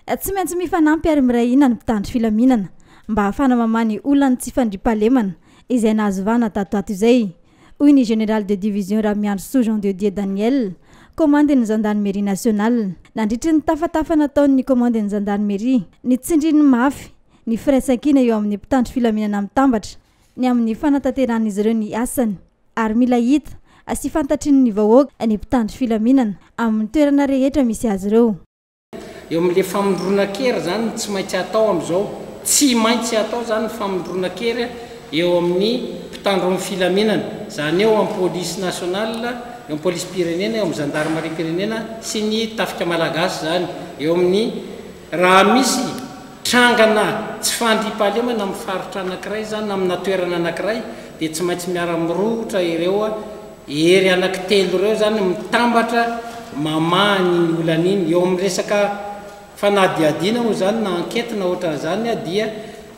Tsy maintsy mifanampy ary miray hina ny mpitandro filaminana mba hahafana mamaha ny olan'ny tsy fandriampahalemana izay nahazo vahana tato ato izay, hoy ny Général de division Ramiandrisoa Jean de Dieu Daniel, komandin'ny Zandarimeria nasionala. Nandritry ny tafatafa nataon'ny komandin'ny Zandarimeria, nitsindriny mafy ny firaisankina eo amin'ny mpitandro filaminana mitambatra ny amin'ny fanatanteran'izy ireo ny asany ary mila hita sy fantatrin'ny vahoaka ny mpitandro filaminana amin'ny toerana rehetra misy azy ireo. eo amin'ilay famondronan-kery izany no tsy maintsy atao amin'izao. Tsy maintsy atao izany ny famondronan-kery eo amin'ny mpitandro ny filaminana. Izany eo amin'ny Polisy Nationale, eo amin'ny Polisim-pirenena, eo amin'ny Zandarimariam-pirenena sy ny Tafika Malagasy izany. Eo amin'ny raha misy trangana tsy fandriampahalemana amin'ny faritra anankiray izany na amina toerana anankiray dia tsy maintsy miara-mirohotra ireo. Hery anaky telo ireo izany mitambatra mamaha an'iny olana iny. Eo amin'ny resaka fanadihadiana moa izany na enquête na ohatran'izany dia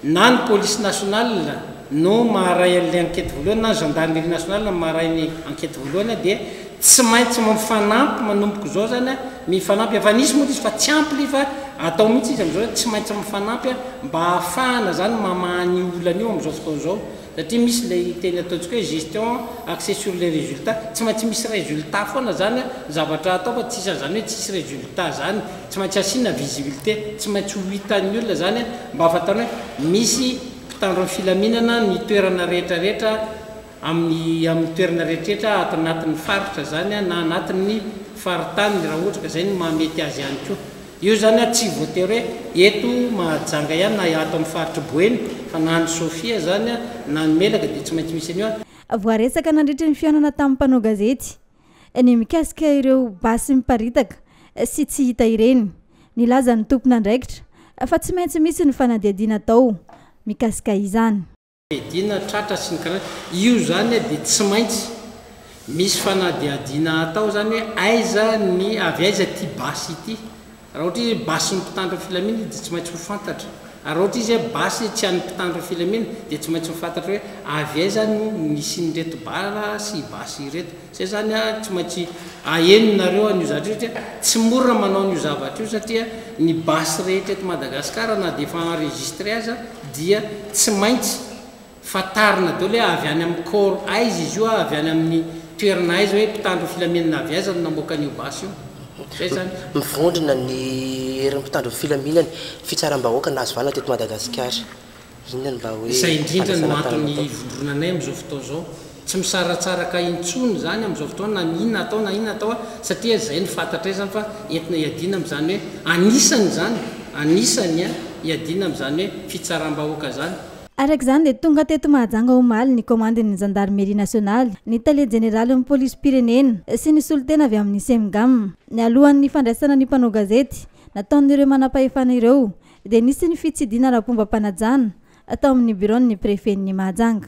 na ny police nationale no maharay an'ilay enquête voalohany na ny gendarmerie nationale no maharay ny enquête voalohany dia tsy maintsy mifanampy manomboka izao izany mifanampy. Efa nisy moa ilay izy fa tsy ampy ilay izy fa atao mihitsy izy amin'izao hoe tsy maintsy mifanampy mba hahafahana izany mamaha an'io olana io amin'izao fotoana izao Satria misy ilay teny ataontsika hoe gestion axée sur les résultats, tsy maintsy misy résultat foana izany an, ny zavatra atao fa tsy isan'izany hoe tsisy résultat izany, tsy maintsy asiana visibilité, tsy maintsy ho hitan'ny olona izany an, mba hahafantany hoe misy mpitandro ny filaminana ny toerana rehetra rehetra amin'ny amin'ny toerana rehetra rehetra ato anatin'ny faritra izany an na anatin'ny faritany raha ohatra ka izay no mahamety azy ihany koa. Io izany ary tsy voatery hoe eto Mahajanga ihany na ato amin'ny faritr'i Boeny fa na any Sofia izany na any Melaka dia tsy maintsy misy an'io ary. Voaresaka nandritry ny fihaonana tamin'ny mpanao gazety ny mikasika ireo basy miparitaka sy tsy hita ireny. Nilaza ny tompon'andraikitra fa tsy maintsy misy ny fanadihadiana atao mikasika izany. Fiadiana tratra sy ny karazany. Io zany dia tsy maintsy misy fanadihadiana atao zany hoe aiza ny avy aiza ity basy ity. Raha ohatra izy hoe basy ny mpitandro ny filaminana izy dia tsy maintsy ho fantatra. Ary raha ohatra izy hoe basy tsy an'ny mpitandro ny filaminana dia tsy maintsy ho fantatra hoe avy aiza no nisian'ireto bala sy basy ireto. Zay izany a, tsy maintsy aheno nareo an'io zavatra io satria tsy mora manao an'io zavatra io satria ny basy rehetra eto Madagascar na dia efa enregistré aza dia tsy maintsy fantarina daholo hoe avy any amin'ny corps aiza izy io, avy any amin'ny toerana aiza hoe mpitandro filaminana avy aiza no namoaka an'io basy io. Zay izany. Mivondrona ny herin'ny mpitandro ny filaminana, fitsaram-bahoaka nahazo valina teto Madagasikara. Inona ny vahoe Izay indrindra no fandraisana antony tany Matofo. hivondronanay amin'izao fotoana izao. Tsy misaratsaraka intsony izany amin'izao fotoana na ny inona atao na inona atao satria izay no fantatray izany fa entina hiadiana amin'izany hoe anisany izany, anisany an, hiadiana amin'izany hoe fitsaram-bahoaka izany. Araka izany dia tonga teto Mahajanga omaly ny komandin'ny Zandarimeria nasionaly, ny tale jeneralin'ny polisim-pirenena sy ny solontena avy amin'ny Cemgam. Nialohan'ny fandraisana ny mpanao gazety nataon'ireo manampahefana ireo dia nisy ny fitsidihana ara-pombam-panajana tao amin'ny biraon'ny prefen'i Mahajanga.